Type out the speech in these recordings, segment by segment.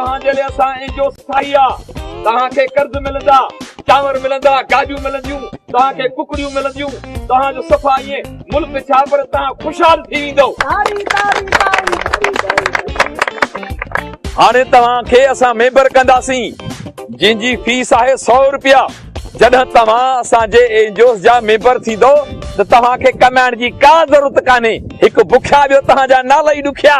توهان جي لئي اسان اين جي اوز ٺاهي آ توهان کي قرض ملندا چانور ملندا گاڏيون ملنديون توهان کي ڪڪڙيون ملنديون توهان جو صفا اين ملڪ ڇا پر توهان خوشحال ٿي ويندو هاڻي توهان کي اسان ميمبر ڪنداسين جن جي فيس آهي سؤ روپيا جڏهن توهان اسان جي اين جي اوز جا ميمبر ٿيندو ته توهان کي ڪمائڻ جي ڪا ضرورت ڪانهي هڪ بکيا ٻيو توهان جا نالا ئي ڏکيا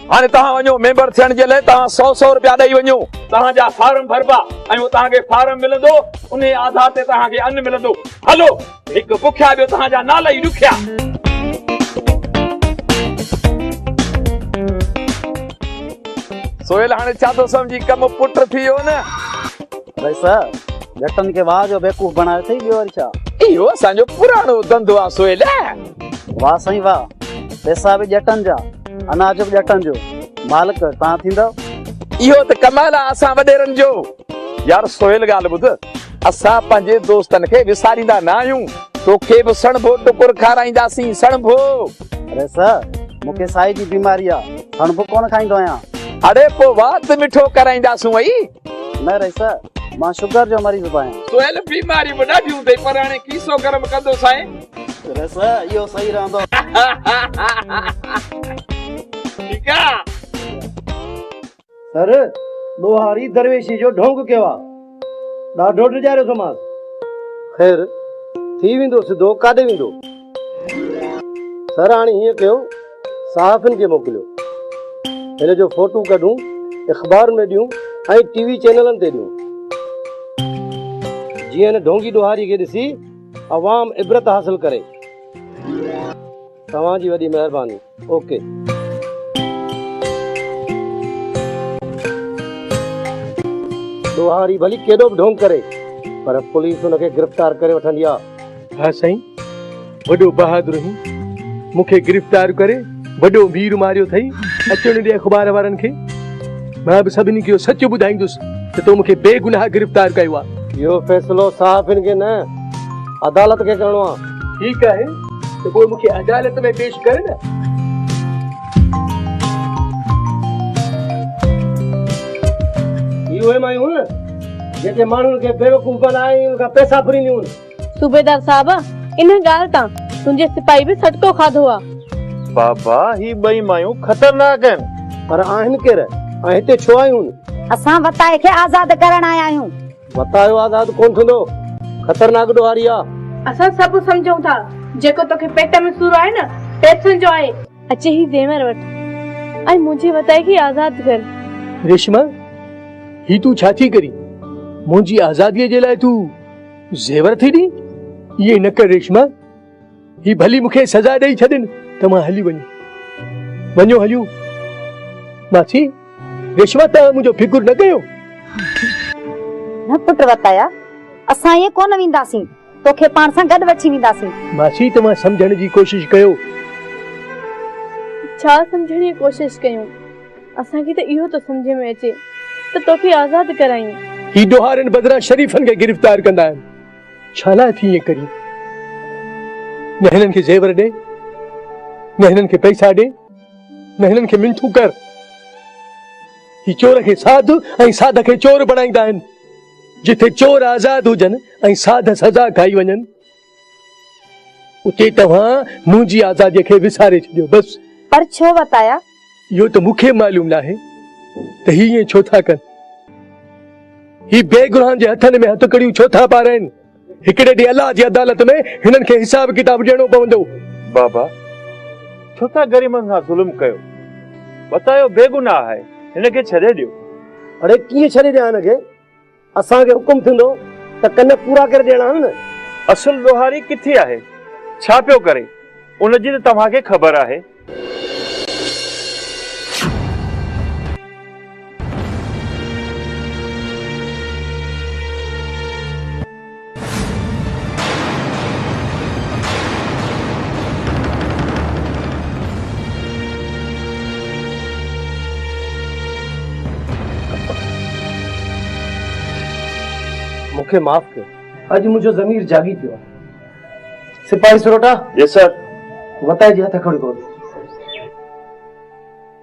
هاڻي توهان وڃو ميمبر ٿيڻ جي لاء توهان سؤ سؤ روپيا ڏئي وڃو. توهان جا فارم ڀربا ۽ اتان کي فارم ملندو انهي آڌار تي توهان کي ان ملندو. هلو هڪ بکيا ٻيو توهان جا نالا ئي ڏکيا. سهيل هاڻي ڇا ٿو سمجهي ڪم پٽ ٿي ويو نه. ڀائي صاحب جٽن کي واهه جو بيوقوف بڻايو اٿئي ٻيو وري ڇا. اهو اسان جو پراڻو ڌنڌو آ سهيل. واھ سائين واھ پيسا به ڄٽن جا اناج به ڄٽن جو مالڪ توهان ٿيندؤ. اهو ته ڪمال آ اسان وڏيرن جو. يار سهيل ڳالهه ٻڌ اسان پنهنجي دوستن کي وساريندا نه آهيون توکي به سڻڀو ٽڪر کارائينداسين سڻڀو. اڙي سر مون کي سائي جي بيماري آ سڻڀو ڪونه کائيندو آهيان. اڙي پو وات مٺو ڪرائينداسون اي. نه رئيسا مان شگر جو مريض به آهيان سهيل بيماري به ڏاڍيون اٿئي پر هاڻي کيسو گرم ڪندو سائين رئيسا اهو صحيح رهندو ٺيڪ آ سر ڏوهاري درويشي جو ڍونگ ڪيو آ ڏاڍو ڊيڄاريو ٿو مانس خير ٿي ويندو سڌو ڪاڏي ويندو. سر هاڻي ائين ڪيو صحافين کي موڪليو هن جو فوٽو ڪڍون اخبارن ۾ ڏيون ۽ ٽي وي چينلن تي ڏيون جيئن هن ڍونگي ڏوهاري کي ڏسي عوام عبرت حاصل ڪري توهان جي وڏي مهرباني اوڪي. ڏوهاري ڀلي ڪيڏو به ڍونگ ڪري پر پوليس ان کي گرفتار ڪري وٺندي آ. ها سائين وڏو بهادر هين مون کي گرفتار ڪري وڏو وير ماريو اٿئي اچڻ ڏي اخبار وارن کي مان به سڀني کي اهو سچ ٻڌائيندس ته تو مون کي بي گناهه گرفتار ڪيو آ. اهو فيصلو صحافين کي نه عدالت کي ڪرڻو آ. ٺيڪ آهي. ته پوء مون کي عدالت ۾ پيش ڪر نه. هي اهي مايون هيون نه، جيڪي ماڻهن کي بيوقوف بنائي ان کان پئسا ڦرينديون هيون. صوبيدار صاحب، ان ڳالهه تان تنهنجي سپاهي به سٽڪو کاڌو آ. بابا، هي ٻئي مايون خطرناڪ آهن. پر آهن ڪير ۽ هتي ڇو آيون هيون؟ اسان وتائي کي آزاد ڪرڻ آيا آهيون. وتايو آزاد ڪونه ٿيندو، خطرناڪ ڏوهاري آ. اسان سڀ سمجهون ٿا، جيڪو توکي پيٽ ۾ سور آهي نه، پيسن جو آهي. اچي هي زيور وٺ ۽ منهنجي وتائي کي آزاد ڪر. ريشما، هي تون ڇا ٿي ڪرين؟ منهنجي آزاديء جي لاء تون زيور ٿي ڏين؟ ائين نه ڪر ريشما. هي ڀلي مون کي سزا ڏئي ڇڏين ته مان هلي وڃان. وڃو هليون. ماسي رشما ته منهنجو فڪر نه ڪيو. نه پٽ وتايا اسان ائين ڪونه وينداسين توکي پاڻ سان گڏ وٺي وينداسين. ماسي توهان سمجهڻ جي ڪوشش ڪيو. ڇا سمجهڻ جي ڪوشش ڪيون اسان کي ته اهو ٿو سمجهه ۾ اچي ته توکي آزاد ڪرايون. هي ڏوهارين بدران شريفن کي گرفتار ڪندا آهن. ڇا لاء ٿي ائين ڪرين؟ نه هنن کي زيور ڏي، نه هنن کي پئسا ڏي، نه هنن کي منٿون ڪر. هي چور کي ساڌ ۽ ساڌ کي چور بڻائيندا آهن. جتي چور آزاد هجن ۽ ساڌ سزا کائي وڃن، اتي توهان منهنجي آزاديء کي وساري ڇڏيو. بس! پر ڇو وتايا؟ اهو ته مون کي معلوم ناهي ته هي ائين ڇو ٿا ڪن. هي بي گناهن جي هٿن ۾ هٿڪڙيون ڇو ٿا پارين. هڪڙي ڏينهن الله جي عدالت ۾ هنن کي حساب ڪتاب ڏيڻو پوندو. بابا ڇو ٿا غريبن سان ظلم ڪيو. بتايو بي گناهه آهي هن کي ڇڏي ڏيو. اڙي ڪيئن ڇڏي ڏيان هن کي. اسان کي حڪم ٿيندو ته ڪن پورا ڪري ڏيڻا آهن نه. اصل ڏوهاري ڪٿي آهي؟ ڇا پيو ڪري؟ ان جي ته توهان کي خبر آهي. مون کي معاف ڪيو اڄ منهنجو ضمير جاڳي پيو آهي سپاهي سروٽا جي سر وتائي جي هٿ کڻي ڪو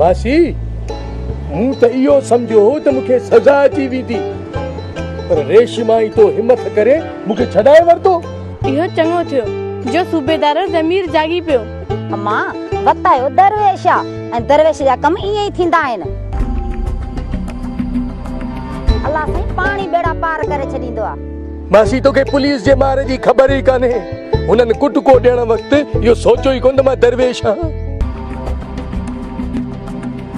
ماسي، مون ته اهو سمجهيو هو ته مون کي سزا اچي ويندي، پر ريشما ئي تو همٿ ڪري مون کي ڇڏائي ورتو. اهو چڱو ٿيو جو صوبيدار جو ضمير جاڳي پيو. امان، وت اهو درويش آ ۽ درويش جا ڪم ائين ئي ٿيندا آهن. الله سائين پاڻ ئي ٻيڙا پار ڪري ڇڏيندو آ. ماسي توکي پوليس جي مار جي خبر ئي ڪانهي هنن ڪٽڪو ڏيڻ وقت اهو سوچيو ئي ڪونه ته مان درويش آهيان.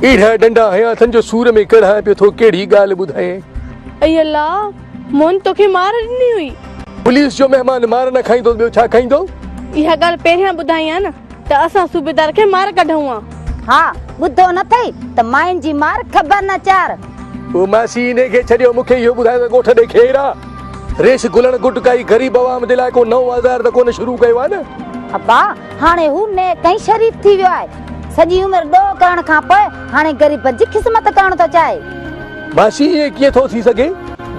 اهڙا ڏنڊا هنيا اٿن جو سور ۾ ڪڙهان پيو ٿو ڪهڙي ڳالهه ٻڌايين. اي الله موهن توکي مار ڏني هئي. پوليس جو مهمان مار نه کائيندو ته ٻيو ڇا کائيندو. اها ڳالهه پهريان ٻڌائين ها نه. ته اسان صوبيدار کي مار ڪڍئون ها. ها، ٻڌو نه ٿئي ته مائين جي مار خبر نه چار. او ماسي انهي کي ڇڏيو مون کي اهو ٻڌايو ته ڳوٺ ڏي کير آ؟ ريش گلڻ گٽ ڪائي غريب عوام جي لاء ڪو نئون آزار ته ڪونه شروع ڪيو آ نه؟ ابا هاڻي هو نيڪ ۽ شريف ٿي ويو آهي. سڄي عمر ڏوهه ڪرڻ کان پوء هاڻي غريبن جي خذمت ڪرڻ ٿو چاهي. ماسي ائين ڪيئن ٿو ٿي سگهي؟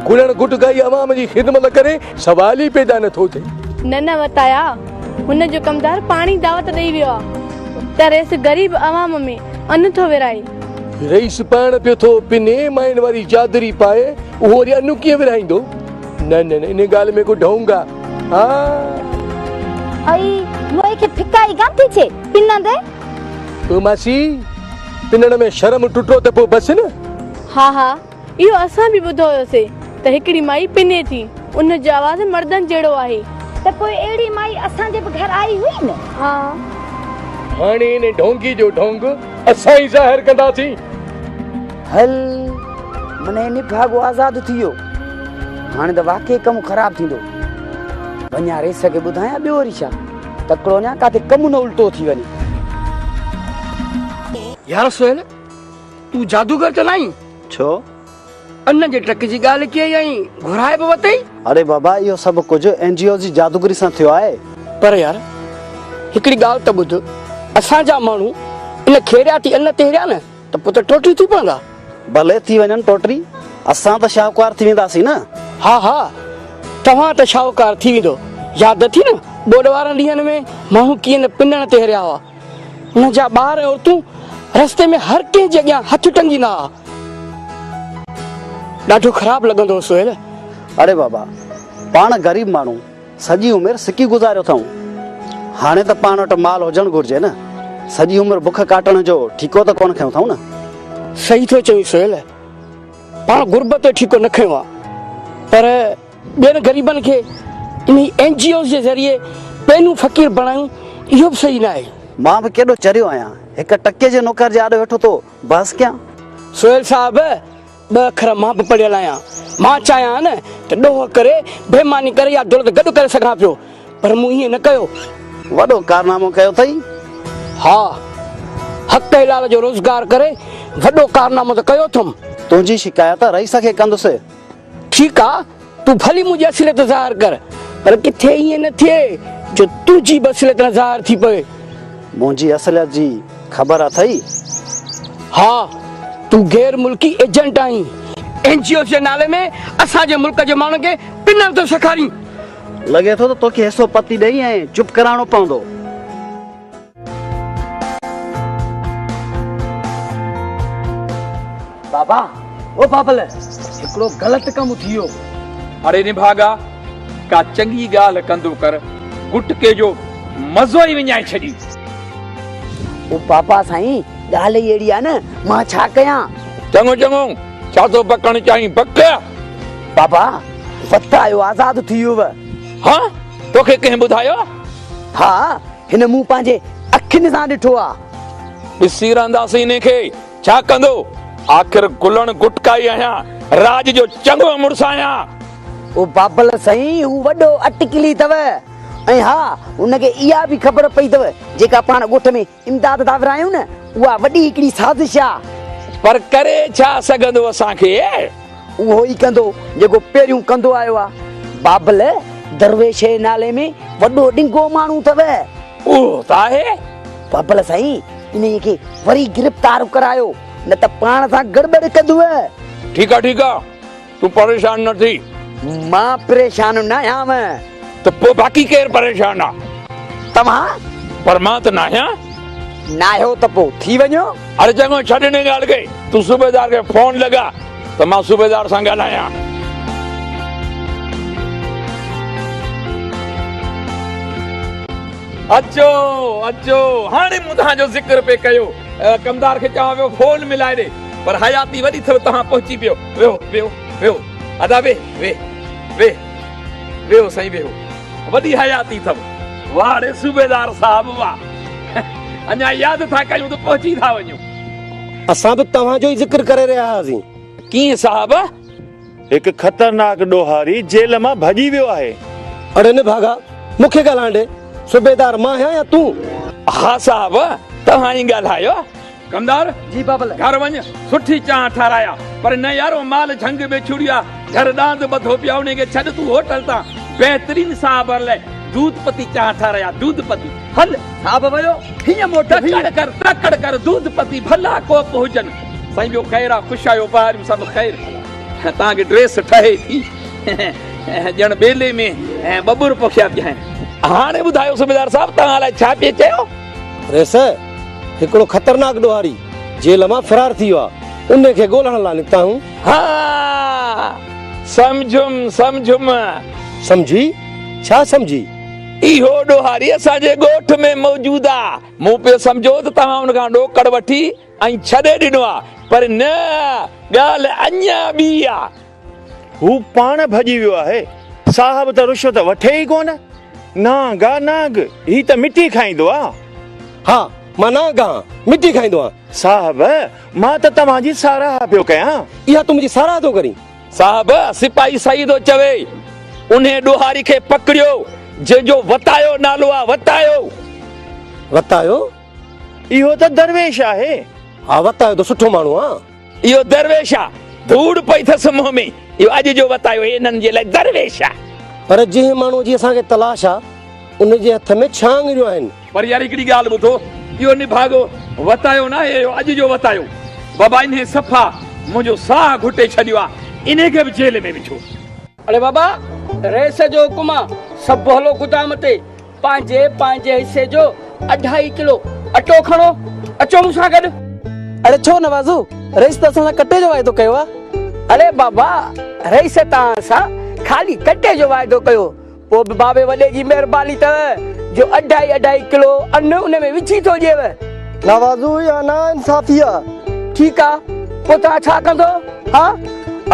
گلڻ گٽ ڪائي عوام جي خذمت ڪري سوال ئي پيدا نه ٿو ٿئي. نه نه وتايا هن جو ڪمدار پاڻي دعوت ڏئي ويو آ ته رئيس غريب عوام ۾ ان ٿو ورهائي. رئيس پاڻ پيو ٿو پني مائين واري چادري پائي اهو وري ان ڪيئن ورهائيندو. نه نه نه ان ڳالهه ۾ ڪو ڍونگ آ آ. اي موئي کي ڦڪائي ڪان ٿي ڇي پنندي. او ماسي پنڻ ۾ شرم ٽٽو ته پو بس نه. ها ها. اهو اسان به ٻڌو هيوسي ته هڪڙي مائي پني ٿي ان جو آواز مردن جهڙو آهي. ته پوء اهڙي مائي اسان جي به گهر آئي هئي نه؟ ها. هاڻي ان ڍونگي جو ڍونگ اسان ئي ظاهر ڪنداسين. هل منهن نڀاڳو آزاد ٿي ويو. هاڻي ته واقعي ڪم خراب ٿيندو. وڃان ريس کي ٻڌايان ٻيو وري ڇا؟ تڪڙو وڃان ڪاٿي ڪم نه الٽو ٿي وڃي. يار سهيل! تون جادوگر ته ناهين؟ ڇو؟ ان جي ٽڪ جي ڳالهه ڪيئي ۽ گهرائي به وتئي؟ اڙي بابا اهو سڀ ڪجهه اين جي او جي جادوگري سان ٿيو آهي. پر يار هڪڙي ڳالهه ته ٻڌ اسان جا ماڻهو ان کيرياتي ان تي هريا نه ته پوء ته ٽوٽري ٿي پوندا. ڀلي ٿي وڃن ٽوٽري اسان ته شاهوڪار ٿي وينداسين نه. ها ها توهان ته شاهوڪار ٿي ويندو ياد اٿئي نه ٻوڏ وارن ڏينهن ۾ ماڻهو ڪيئن نه پنڻ تي هريا هئا. هن جا ٻار ۽ عورتون رستي ۾ هر ڪنهن جي اڳيان هٿ ٽنگيندا ها. ڏاڍو خراب لڳندو هو سهيل. اڙي بابا، پاڻ غريب ماڻهو سڄي عمر سڪي گذاريو اٿئون. هاڻي ته پاڻ وٽ مال هجڻ گهرجي نه. سڄي عمر بک ڪاٽڻ جو ٺيڪو ته ڪونه کنيو اٿئون نه. صحيح ٿو چوين سهيل، پاڻ غربت جو ٺيڪو نه کنيو آهي پر. ٻين غريبن کي انهي اين جي اوز جي ذريعي پينون فقير بڻايون اهو به صحيح ناهي. مان به ڪيڏو چريو آهيان هڪ ٽڪي جي نوڪر جي آڏو ويٺو ٿو بحث ڪيان. سهيل صاحب ٻه اکر مان به پڙهيل آهيان مان چاهيان ها نه ته ڏوهه ڪري بيماني ڪري يا دولت گڏ ڪري سگهان پيو پر مون ائين نه ڪيو. وڏو ڪارنامو ڪيو اٿئي. ها حق حلال جو روزگار ڪري وڏو ڪارنامو ته ڪيو اٿم. تنهنجي شڪايت رئيس کي ڪندس. ٺيڪ آ تون ڀلي منهنجي اصليت ظاهر ڪر پر ڪٿي ائين نه ٿئي جو تنهنجي به اصليت نه ظاهر ٿي پوي. منهنجي اصليت جي خبر اٿئي؟ ها تون غير ملڪي ايجنٽ آهين. اين جي اوز جي نالي ۾ اسان جي ملڪ جي ماڻهن کي پنڻ ٿو سيکارين. لڳي ٿو ته توکي حصو پتي ڏئي ۽ چپ ڪرائڻو پوندو. بابا او بابل هڪڙو غلط ڪم ٿي ويو. اڙي نڀاڳا ڪا چڱي ڳالهه ڪندو ڪر گٽڪي جو مزو ئي وڃائي ڇڏين. او بابا سائين ڳالهه ئي اهڙي آهي نه مان ڇا ڪيان. چڱو چڱو ڇا ٿو بڪڻ چاهين بڪ. بابا وت آيو آزاد ٿي ويوء. هه توکي ڪنهن ٻڌايو؟ ها. هن مون پنهنجي اکين سان ڏٺو آ. ڏسي رهنداسين انهي کي ڇا ڪندو. آخر گلڻ گٽڪائي آهيان. راڄ جو چڱو مڙس آهيان. او بابل سائين هو وڏو اٽڪلي اٿو. ۽ ها هن کي اها به خبر پئي اٿو جيڪا پاڻ ڳوٺ ۾ امداد ٿا ورهايون نه اها وڏي هڪڙي سازش آ. پر ڪري ڇا سگهندو اسان کي. اهو ئي ڪندو جيڪو پهريون ڪندو آيو آ. بابل درويش جي نالي ۾ وڏو ڏنگو ماڻهو اٿو. اهو ته آهي. بابل سائين انهيء کي وري گرفتار ڪرايو نه ته پاڻ سان گڙٻڙ ڪندو. ٺيڪ آ ٺيڪ آ تون پريشان نه ٿي. مان پريشان ناهيان. ته پوء باقي ڪير پريشان آ؟ توهان؟ پر مان ته ناهيان. ناهيو ته پوء ٿي وڃو. اڙي چڱو ڇڏ انهي ڳالهه کي. تون صوبيدار کي فون لڳاء ته مان صوبيدار سان ڳالهايان. اچو اچو هاڻي مون توهان جو ذڪر پئي ڪيو. ڪمدار کي چوان پيو فون ملائي ڏي. پر حياتي وڏي ٿيو توهان پهچي پيو. ويهو ويهو ويهو ادا ويهه ويهه ويهه. ويهو سائين ويهو وڏي حياتي اٿم. واهه ڙي صوبيدار صاحب واهه. اڃا ياد ٿا ڪيون ته پهچي ٿا وڃون. اسان به توهان جو ئي ذڪر ڪري رهيا هئاسين. ڪيئن صاحب؟ هڪ خطرناڪ ڏوهاري جيل مان ڀڄي ويو آهي. اڙي نه ڀاڳا مون کي ڳالهائڻ ڏي. صوبيدار مان آهيان يا تون؟ ها صاحب توهان ئي ڳالهايو. ڪمدار! جي بابل! گهر وڃ، سٺي چانهه ٺارايا. پر نه يار، اهو مال جهنگ ۾ ڇوڙيو آهي. گهر ڏاند ٻڌو پيو آهي، انهي کي ڇڏ، تون هوٽل تان بهترين صاحبن لاء دود پتي چانهه ٺارايا. دود پتي، هل! صاحب ويو، هينئن موٽيو هينئن. تڪڙ ڪر، تڪڙ ڪر، دود پتي ڀلا ڪوپ هجن. سائين ٻيو خير آهي، خوش آهيو، ٻهاريون سڀ خير ڀلا. توهان کي ڊريس ٺهي ٿي؟ ڄڻ ٻيلي ۾ ٻٻر پوکيا پيا آهن. هاڻي ٻڌايو صوبيدار صاحب، توهان الائي ڇا پئي چيو؟ ريس، هڪڙو خطرناڪ ڏوهاري جيل مان فرار ٿي ويو آهي. ان کي ڳولڻ لاء نڪتا آهيون. ها، سمجهيم، سمجهيم. سمجهي؟ ڇا سمجهي؟ اهو ڏوهاري اسان جي ڳوٺ ۾ موجود آ. مون پيو سمجهيو ته توهان ان کان ڏوڪڙ وٺي ۽ ڇڏي ڏنو آ، پر نه، ڳالهه اڃا ٻي آ. هو پاڻ ڀڄي ويو آهي. صاحب ته رشوت وٺي ئي ڪونه. نانگا نانگ، هي ته مٽي کائيندو آ. ها، مان نانگ آهان، مٽي کائيندو آهان. صاحب، مان ته توهان جي ساراهه پيو ڪيان. اها تون منهنجي ساراهه ٿو ڪرين؟ صاحب، سپاهي صحيح ٿو چوي. انهيء ڏوهاري کي پڪڙيو، جنهن جو وتايو نالو آ، وتايو! وتايو؟ اهو ته درويش آهي. ها، وتايو ته سٺو ماڻهو آ. اهو درويش آ ڌوڙ پئي ٿس منهن ۾ اهو اڄ جو وتايو هي انهن جي لاء درويش آ. پر جنهن ماڻهوء جي اسان کي تلاش آ ان جي هٿ ۾ ڇهه آڱريون آهن. پر يار هڪڙي ڳالهه ٻڌو اهو نڀاڳو وتايو ناهي اهو اڄ جو وتايو بابا انهي صفا منهنجو ساهه گهٽي ڇڏيو آ انهي کي به جيل ۾ وجهو. اڙي بابا رئيس جو حڪم آ سڀ هلو گدام تي پنهنجي پنهنجي حصي جو اڍائي ڪلو اٽو کڻو اچو مون سان گڏ. اڙي ڇو نوازو، رئيس ته اسان سان ڪٽي جو واعدو ڪيو آ. اڙي بابا رئيس توهان سان خالي ڪٽي جو واعدو ڪيو پوء به بابي وڏي جي مهرباني اٿئو جو اڍائي اڍائي ڪلو ان ان ۾ وجهي ٿو ڏيئو. نوازو اها نا انصافي آ. ٺيڪ آ پوء توهان ڇا ڪندو ها؟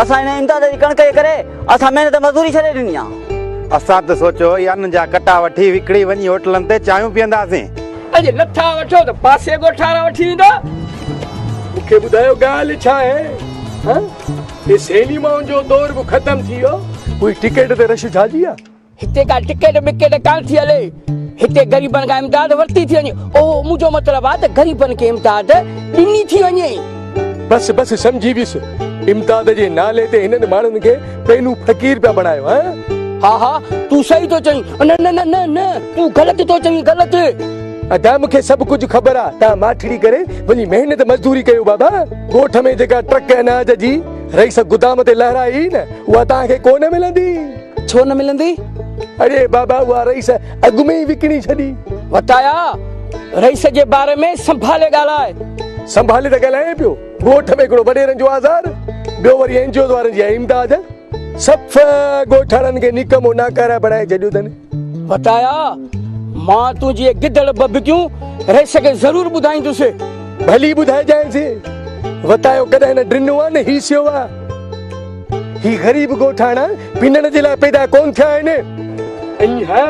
اسان هن امتياز جي ڪڻڪ جي ڪري اسان محنت مزوري ڇڏي ڏني آ. اسان ته سوچيو هئي ان جا ڪٽا وٺي وڪڻي وڃي هوٽلن تي چانهيون پيئنداسين. اڄ نٿا وٺو ته پاسي ڳوٺ وارا وٺي ويندا. مون کي ٻڌايو ڳالهه ڇا آهي؟ هه! هي سينيمائن جو دور به ختم ٿي ويو. اهي ٽڪيٽ تي رش ڇا جي آ؟ هتي ڪا ٽڪيٽ ٻڪيٽ ڪانه ٿي هلي، هتي غريبن کان امداد ورتي ٿي وڃي. اوهو، مون جو مطلب آهي ته غريبن کي امداد ڏني ٿي وڃي. بس بس سمجهي ويس. امداد جي نالي تي هنن ماڻهن کي پينو فقير پيا بڻايو هه. ها ها تون صحيح ٿو چوين. نه نه نه نه نه تون غلط ٿو چوين غلط. ادا مون کي سڀ ڪجهه خبر آ توهان ماٺڙي ڪري وڃي محنت مزدوري ڪيو بابا. ڳوٺ ۾ جيڪا ٽرڪ اناج جي رئيس گدام تي لهرائي نه اها توهان کي ڪونه ملندي. ڇو نه ملندي؟ اڙي بابا اها رئيس اڳ ۾ ئي وڪڻي ڇڏي. وتايا! رئيس جي باري ۾ سنڀالي ڳالهاء. سنڀالي ته ڳالهايان پيو. ڳوٺ ۾ هڪڙو وڏيرن جو آزار، ٻيو وري اين جي اوز وارن جي امداد. صفح ڳوٺاڻن کي نڪمو ناڪاره بڻائي ڇڏيو اٿن. وتايا! مان تون جي گدڙ ٻڀڪيون رئيس کي ضرور ٻڌائيندس. ڀلي ٻڌائجانس. وتايو ڪڏهن نه ڊنو آ نه هيسيو آ. هي غريب ڳوٺاڻا پنڻ جي لاء پيدا ڪونه ٿيا آهن. ۽ ها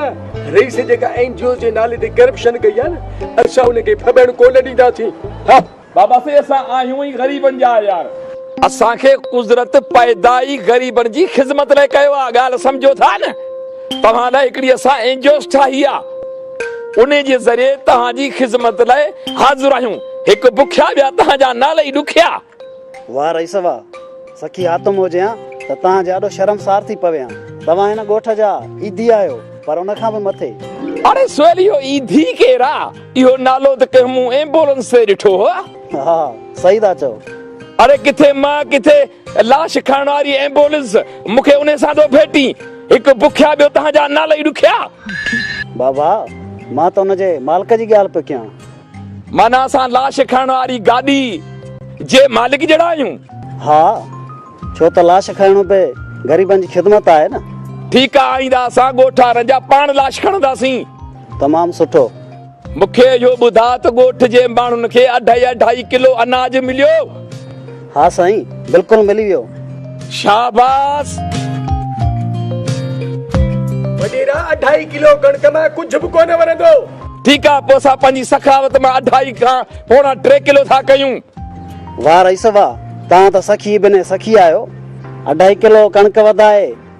رئيس جيڪا اين جي اوز جي نالي تي ڪرپشن ڪئي آهي نه اسان ان کي ڦٻڻ ڪونه ڏينداسين ها. بابا سي اسان آهيون ئي غريبن جا عيار. اسان کي قدرت پيدا ئي غريبن جي خدمت لاء ڪيو آهي ڳالهه سمجهو ٿا نه توهان لاء هڪڙي اسان اين جي اوز ٺاهي آهي ان جي ذريعي توهان جي خدمت لاء حاضر آهيون هڪ بکيا ٻيا توهان جا نالئي ڏکيا. واه رئيس واه! سکي حاتم هجيان ته توهان جي آڏو شرمسار ٿي پويان. توهان هن ڳوٺ جا ايڌي آهيو، پر ان کان به مٿي. اڙي سهيل اهو ايڌي ڪير آ؟ اهو نالو ته ڪنهن مون ايمبولنس تي ڏٺو هو. ها صحيح ٿا چئو. اڙي ڪٿي مان ڪٿي لاش کڻڻ واري ايمبولنس مون کي انهي سان ٿو ڀيٽين. هڪ بکيا ٻيو توهان جا نالئي ڏکيا. بابا مان ته ان جي مالڪ جي ڳالهه پيو ڪيان. معنيٰ اسان لاش کڻڻ واري گاڏي جي مالڪ جهڙا آهيون؟ ها، ڇو ته لاش کڻڻ به غريبن جي خدمت آهي نه. ٺيڪ آهي، آئنده اسان ڳوٺ وارن جا پاڻ لاش کڻنداسين. تمام سٺو. مون کي اهو ٻڌاء ته ڳوٺ جي ماڻهن کي اڍائي اڍائي ڪلو اناج مليو؟ ها سائين بلڪل ملي ويو. شاباس. وڏيرا اڍائي ڪلو ڪڻڪ مان ڪجهه به ڪونه ورندو. ٺيڪ آ پو اسان پنهنجي سخاوت مان اڍائي کان پوڻا ٽي ڪلو ٿا ڪيون. واه رئيس واه توهان ته سخي بني سخي آهيو اڍائي ڪلو ڪڻڪ وڌائي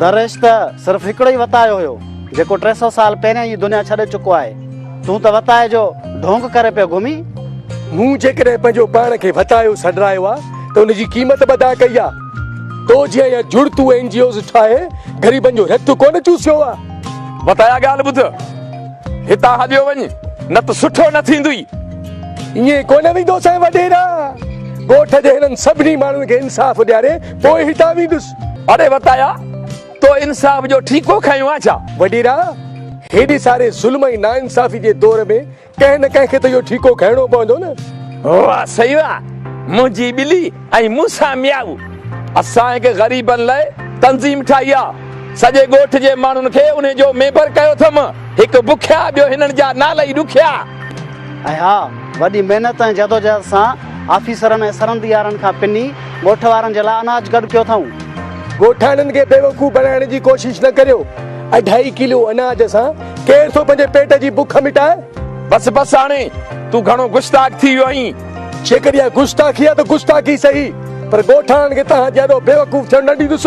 درويش ته صرف هڪڙو ئي وتايو هيو، جيڪو ٽي سؤ سال پهريان ئي دنيا ڇڏي چڪو آهي. تون ته وتايي جو ڍونگ ڪري پيو گهمين. مون جيڪڏهن پنهنجو پاڻ کي وتايو سڏرايو آهي ته ان جي قيمت به ادا ڪئي آهي. تو جيان يا جڙتو اين جي اوز ٺاهي غريبن جو رت ڪونه چوسيو آهي. وتايا ڳالهه ٻڌ، هتان هليو وڃ، نه ته سٺو نه ٿيندئي. ائين ڪونه ويندوسانء وڏيرا. ڳوٺ جي هنن سڀني ماڻهن کي انصاف ڏياري پوء هتان ويندس. اڙي وتايا! تو انصاف جو ٺيڪو کنيو آ ڇا؟ وڏيرا! هيڏي ساري ظلم ۽ ناانصافي جي دور ۾ ڪنهن نه ڪنهن کي ته اهو ٺيڪو کنئڻو پوندو نه؟ واه سئي واه! منهنجي ٻلي ۽ مون سان ميائو! اسان هڪ غريبن لاء تنظيم ٺاهي آ. سڄي ڳوٺ جي ماڻهن کي انهي جو ميمبر ڪيو اٿم. هڪ بکيا ٻيو هنن جا نالا ئي ڏکيا. ۽ ها! وڏي محنت ۽ جدوجهد سان آفيسرن ۽ سرنديارن کان پني ڳوٺ وارن جي لاء اناج گڏ ڪيو اٿئون. ڳوٺاڻن کي بيوقوف بڻائڻ جي ڪوشش نه ڪريو. اڍائي ڪلو اناج سان ڪير ٿو پنهنجي پيٽ جي بک مٽائي؟ بس بس هاڻي تون گهڻو گستاخ ٿي ويو آهين. جيڪڏهن اها گستاخي آهي ته گستاخي سهي پر ڳوٺاڻن کي توهان جهڙو بيوقوف ٿيڻ نه ڏيندس.